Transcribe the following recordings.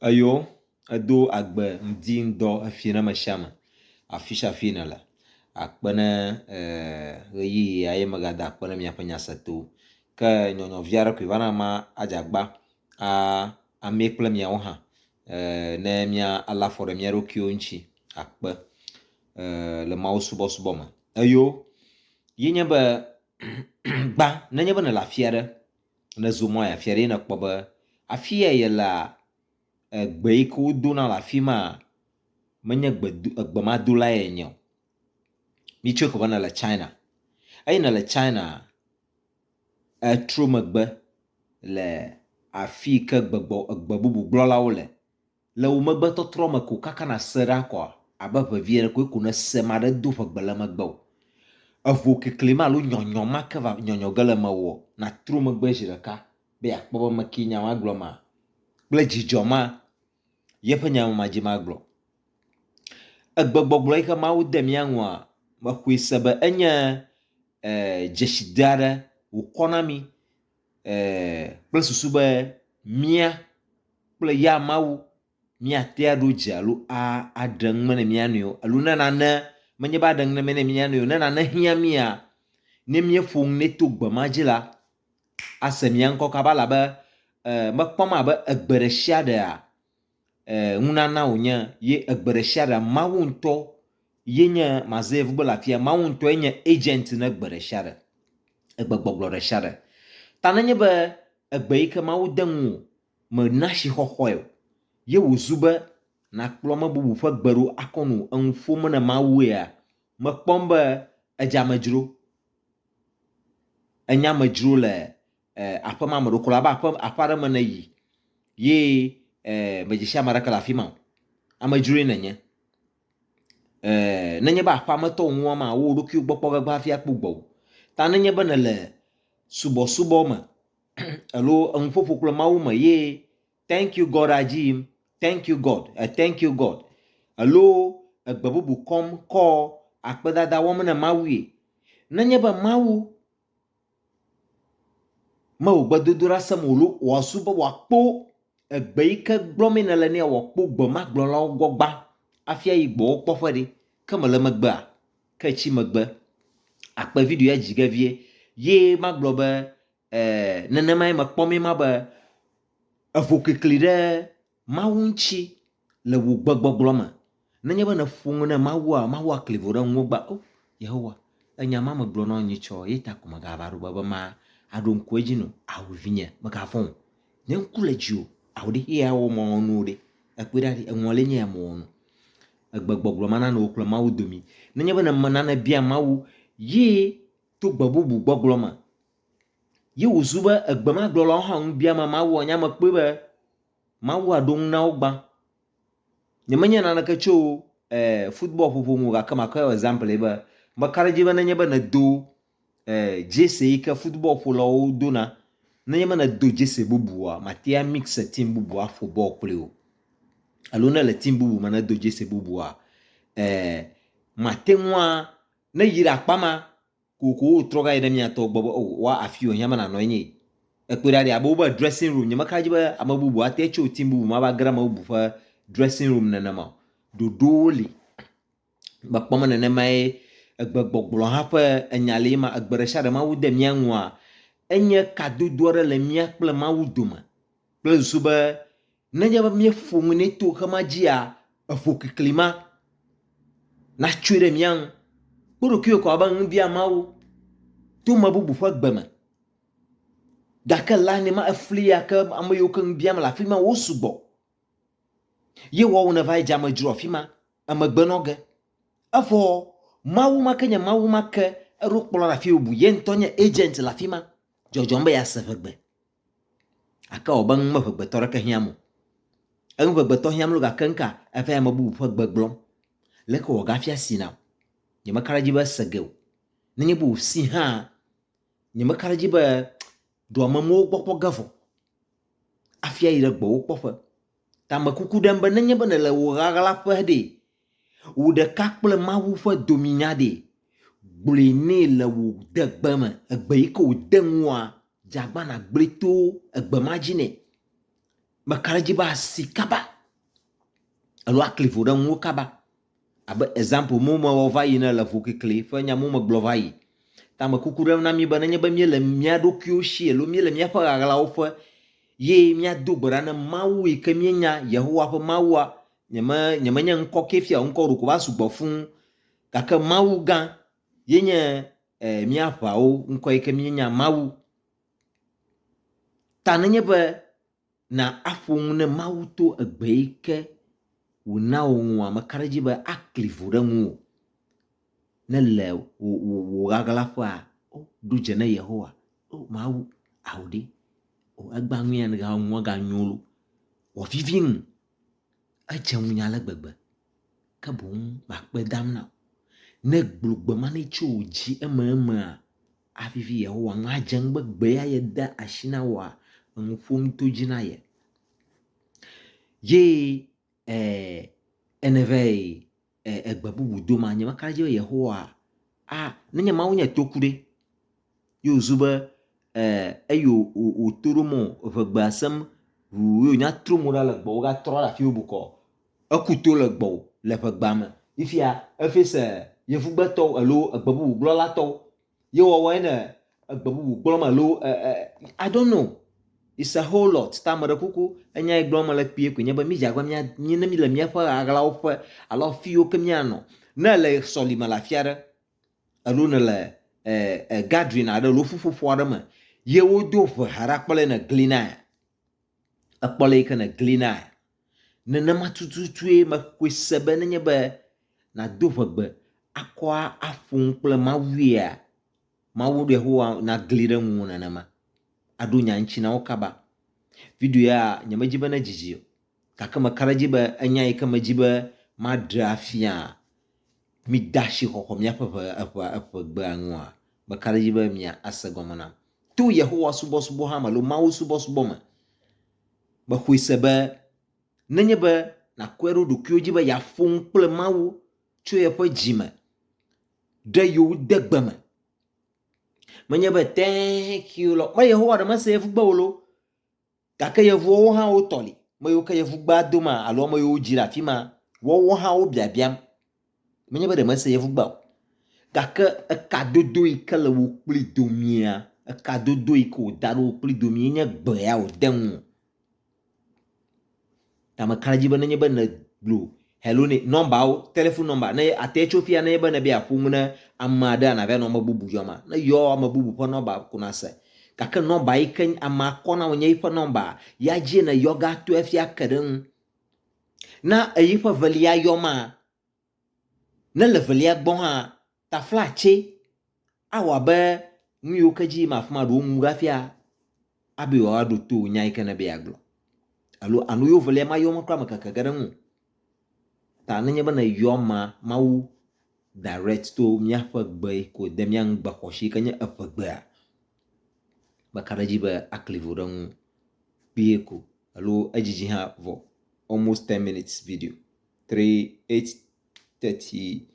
Eyó edó agbe ŋdi ŋdɔ efi ne mesiame afisiafi nele akpene ɣeyiɣi ya ye mega da akpe ne miaƒe nya se to ke nyɔnyɔvi aɖe koe va na ma adze agba amɛ kple miawo hã ne mia le afɔ ɖe miaɖokuiwo ŋtsi akpe le mawu subɔsubɔ me eyó yinye be gbã nenye be nele afiaɖe Nèzo mɔ yi afi aɖee nèkpɔ be afi ya yelea, gbe yi ke wodona le afi ma menye gbedo, egbemadolae enye o. Mitsɔe kɔ be nèle China. Eyi nèle China, ètro megbe le afi yi ke gbegbɔ, egbebubugblɔlawo le. Le wò megbetɔtrɔ me ko kaka nàse ɖa kɔ abe ʋevi ene koe ko nèse ame aɖe do ʋegbe le megbe o. Evo kekli ma alo nyɔnyɔ ma ke va nyɔnyɔ ge le mewòɔ, nàtro megbe zi ɖeka be yeakpɔ be ame kee nya ma gblɔ ma kple dzidzɔ ma ye ƒe nya ma dzi magblɔ. Egbegbɔgblɔ yi ke Mawu de mía ŋua, mexɔe se be enye e dzeside aɖe wòkɔ na mí. kple susu be mía kple ya Mawu míate aɖo dze alo aɖe nume ne mía nɔewo alo ne nane menye be aɖe nume ne mía nɔewo o, ne nane hiã mía, ne míeƒo nu nɛ to gbe ma dzi la, ase mía ŋkɔ kaba elabe mekpɔm abe egbe ɖe sia ɖea, eh, ŋunana wònye ye egbe ɖe sia ɖe Mawu ŋutɔ ye nye mazev gbe le afia Mawu ŋutɔ ye nye agent ne gbe ɖe sia ɖe egbe gbɔgblɔ ɖe sia ɖe ta nenye be egbe yi ke Mawu de ŋu o mena si xɔxɔe o ye wòzu be nakplɔ me bubu ƒe gbe ɖo akɔ nu eŋu ƒom ne Mawu ya mekpɔm be edze amedzro enye amedzro le eh, aƒe ma me ɖo kura, be aƒe, aƒe aɖe me ne yi, ye eh, medzesi ame aɖeke le afi ma o. Amedzroe nenye. Eh, nenye be aƒea me tɔ ŋua ma, wo ɖokuiwo gbɔ kpɔ gbegbe hafi akpɔ gbɔ o. Ta nenye be nele subɔsubɔ me, alo enuƒoƒo kple Mawu me, ye thank you God adzi yim, thank you God, eh, thank you God, alo egbe bubu kɔm kɔ akpedada wɔm ne Mawue. Nenye be Mawu Mewò gbedodoɖa sem wòló wòazu be wòakpó egbe yi ke gblɔm mí nèle nɛa wòakpó gbe ma gblɔlawo gbɔ gbã afi ayi gbe wo kpɔƒe ɖi. Ke mele megbea, ke etsi megbe akpe video ya dzi ge vie ye magblɔ be, ɛɛ, nenemae mekpɔ mí ma be evo klikli ɖe Mawu ŋuti le wò gbegbɔgblɔ me. Nenye be nèƒo nu na Mawua, Mawu akli vo ɖe ŋuwò be, O, Yehowa, ènya ema megblɔ na wò nyitsɔ, eya ta ko mègava ɖo be be ma aɖo ŋku edzi nu o. Ao, vinye, mègavɔ̃ o. Nye ŋku le dziwò. Ao, ɖe xexea awɔ mawɔnuwo ɖe? Ekpɔe ɖa ɖi, eŋɔlie nye ya mewɔ nu. Egbegbɔgblɔ ma nana wò kple Mawu domi. Nenye be nèmena nèbia Mawu ye to gbe bubu gbɔgblɔ me ye wòzu be egbemagblɔlawo hã ŋu biama Mawua, nye ame kpɔe be, Mawu aɖo ŋu na wo gbã. Nyemenye naneke tso eh, football ƒoƒo ŋu gake makɔ yɔ example be meka ɖe edzi be nenye be nèdo eh, jersey yi ke football ƒolawo dona, nenye be nèdo jersey bubua, màte ŋu amix team bubu aƒo bɔl kpli o. Alo ne èle team bubu me ne do jersey bubua, eh, màte ŋua, ne yi ɖe akpa ma, Kokoko wotrɔ gayi ɖe mia tɔ gbɔ be oh wa afi yo hiame nanɔ enye yi. Ekpɔe ɖa ɖi abe wobe dressing room nye meka dzi be ame bubu ate tso team bubu ma va ge ɖe ame bubu ƒe dressing room nene ma o. Ɖoɖowo li. Mekpɔ me nenemae egbe gbɔgblɔ hã ƒe enya li ema egbe ɖe sia ɖe Mawu de mia ŋua enye kadodo aɖe le mia kple Mawu dome kple susu be Nenye be míeƒo nu nɛ to xema dzia, eƒo klikli ma natsoe ɖe mía ŋu. Kpɔ ɖokuiwò kɔ abe nu bia Mawu to ame bubu ƒe gbe me. Gake la nɛ ma efli ya ke ame yiwo ke nu biam le afi ma wo sugbɔ. Ye woawo neva yi dze amedzro afi ma emegbe nɔ ge. Evɔ Mawu ma ke nye Mawu ma ke eɖo kplɔla ɖe afi bubu. Ye ŋutɔ nye agent le afi ma dzɔdzɔm be yease ʋegbe. Gake ewɔ abe nu meŋegbetɔ aɖeke hiãm o. Enu ŋegbetɔ hiãm ɖo gake ŋka? Eva yi ame bubu ƒe gbe gblɔm. Leke wògafia si nam? Nyemeka ɖe edzi be ese ge o. Nenye be wòsi hã, nyemeka ɖe edzi be dɔmemewo gbɔ kpɔ ge vɔ hafi ayi ɖe gbɔwò kpɔƒe. Ta mekuku ɖem be nenye be nèle wò ʋaʋla ƒe ɖee, Wò ɖeka kple Mawu ƒe dominya ɖe? Gblɔe nɛ le wò degbe me, egbe yi ke wòde ŋuwòa, dze agbana gblɔe to egbe ma dzi nɛ. Meka ɖe edzi be asi kaba alo akli vo ɖe ŋuwò kaba. Abe example me mewɔ va yi ene le ŋukekli ƒe nya me megblɔ va yi. Ta mekuku ɖem na mí be nenye be míele mía ɖokuiwo si alo míele míaƒe ɣaɣlawo ƒe ye míado gbe ɖa na Mawu yi ke míenya, Yehowa ƒe Mawua, nyeme nyemenye ŋkɔ ke fia ŋkɔ ɖeko va sugbɔ fũu gake Mawu gã ye nye eh, mía ʋawo ŋkɔ yi ke míenya Mawu ta nenye be na aƒo nu ne Mawu to egbe yi ke wòna wò ŋua meka ɖe edzi be akli vo ɖe ŋuwò ne le wò wò wò ɣaɣlaƒea o ɖu dze ne Yehowa o Mawu ao ɖi o egba ŋuya ne ga ŋua ga nyo lo wòavivi nu Edze ŋunye ale gbegbe, ke boŋ makpe dam na wò. Ne ègblɔ gbe ma nɛ tso wò dzi ememea, avivi Yehowa ŋu, adze ŋu be gbe ya ye de asi na wòa? Enu ƒom to edzi na ye. Ye e, ene vɛ egbe bubu dom anyi be aka ɖe edzi be Yehowa a ne nye Mawu nye toku ɖe. Ye wòzu be eyi wòto ɖom o, eŋe gbea sem ŋuu ye wònya trɔ mo ɖa le gbɔwò wogatrɔ ɖe afi wò bukɔ. Eku to le gbɔwò le ŋegbea me. Yi fiaa efɛse yevugbetɔwo alo egbe bubu gblɔla tɔwo ye wɔwɔe le egbe bubu gblɔm me alo e, e, I don't know. It's a whole lot. Ta meɖe kuku enya yi gblɔm mele kpuie koe nye be mídze agba mía mí ne míle míaƒe aɣlawo ƒe alo afiwo ke míanɔ. Ne le sɔlime le afi aɖe alo ne le e, e, gathering aɖe alo ƒuƒoƒo aɖe me ye wodo ʋe ha ɖe akpɔ le ne glinae. Ekpɔ le yi ke ne glinae. Nenema tututue mexɔe se be nenye be nàdo ʋegbe akɔ aƒo nu kple Mawua, Mawu Yehowa nagli ɖe ŋuwò nenema, aɖo nya ŋuti na wo kaba. Video ya nyemedi be nedzidzi o, gake meka ɖe edzi be enya yi ke medi be maɖe afia, mide asi xɔxɔ míaƒe ʋe, eʋe, eʋegbea ŋua, meka ɖe edzi be miase gɔme nam. To Yehowa subɔsubɔ hã me alo Mawu subɔsubɔ me Mexɔe se be nenye be nàkɔe ɖo ɖokuiwò dzi be yeaƒo nu kple Mawu tso yeƒe dzi me ɖe yewo degbe me, menye be thank you lɔ me Yehowa ɖe mese yevugbe o lo, gake yevuawo hã wotɔ li, ame yiwo ke yevugbea doma alo ame yiwo wodzi ɖe afi ma, woawo hã wobiabiam Menye be ɖe mese yevugbe o, gake ekadodo yi ke le wò kpli domea, ekadodo yi ke wòda ɖe wò kpli domea enye gbe ya wòde ŋu. Ta meka ɖe edzi be nenye be nègblɔ hello nɛ, nɔmbawo, telefon nɔmba, ne ate tso fiya nenye be nèbe yeaƒo nu ne ame aɖe anɔ ava nɔ ame bubu yɔma, ne yɔ ame bubu ƒe nɔmba ko nàse. Gake nɔmba yi ke amea kɔ na wò nye eƒe nɔmba, ya dzie nèyɔ ge ato efi ake ɖe eŋu. Na ɣeyiɣi ƒe evelia yɔ ma. Ne le evelia gbɔ hã, taflatse awɔ abe nu yiwo ke dzi yim afi ma ɖe woŋu ɖo hafi abe yewoaɖo to nya yi ke nèbe yeagblɔ alo alo yewo evelia mayɔ ma kura amekeke ge ɖe eŋu o. Ta nenye be nèyɔ ma, Mawu direct to míaƒe gbe yi ke wòde mía ŋugbe xɔasi yi ke nye eƒegbea, Meka ɖe edzi be akli ŋu ɖe eŋu kpuie ko alo edzidzi hã vɔ almost ten minutes video three eight thirty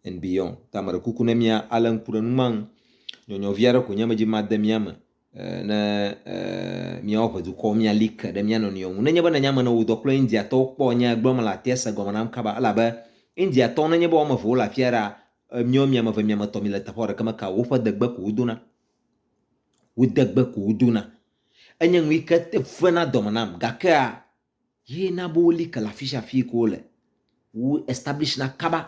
and beyond ta meɖe kuku ne mia ale ŋku ɖe nu ma ŋu. Nyɔnyɔvi aɖe ko nye medzi be made mia me eh, ne eh, miawo ʋe dukɔ mia like ɖe mia nɔnɔewo ŋu. Nenye be nènya ame ne wò dɔ kple Indiatɔwo kpɔ nye gblɔm le atia se gɔme nam kaba elabe Indiatɔwo nenye be wɔme eve wole afia ɖa Miɔ miameve miametɔ mile teƒea ɖeke me ka woƒe degbe ko wodona wo degbe ko wodona enye nuyike te vena dɔme nam gakea ye na be woli ke le afisia afii ke wole wo establish na kaba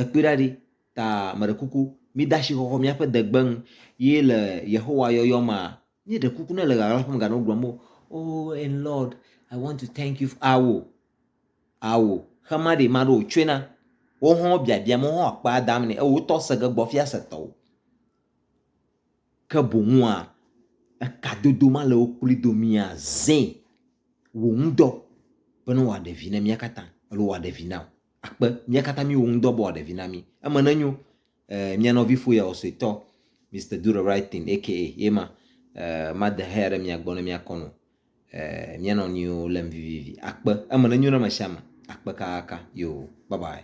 ekpɔe ɖa ɖi ta meɖe kuku mi dasi xɔxɔ miaƒe degbe nu ye le Yehowa yɔyɔ mea Míeɖe kuku ne le ɣaɣla ƒom gane wogblɔm be, Oh, and Lord, I want to thank you. Ao, ao, xe ma ɖe maɖe wòtsɔe na. Wo hã biabia me, wo hã akpea dam nɛ. Ewò tɔ se ge gbɔ fia se tɔwò. Ke boŋua, ekadodo ma le wo kpli do mia zẽ wò ŋudɔ bene wòaɖe vi ne mía katã alo wòaɖe vi na wò. Akpe, mía katã míwò ŋudɔ be wòaɖe vi na mí. Eme nenyo eh, mia nɔvi fo ya wɔ suetɔ, Mr. Do the right thing, aka ye ma, eh, ma de haya ɖe mia gbɔ ne mia kɔnɔ, eh, mia nɔ niwo lem vivivi. Akpe, eme ne nyo na me shame, akpe kakaka, yo, bye bye.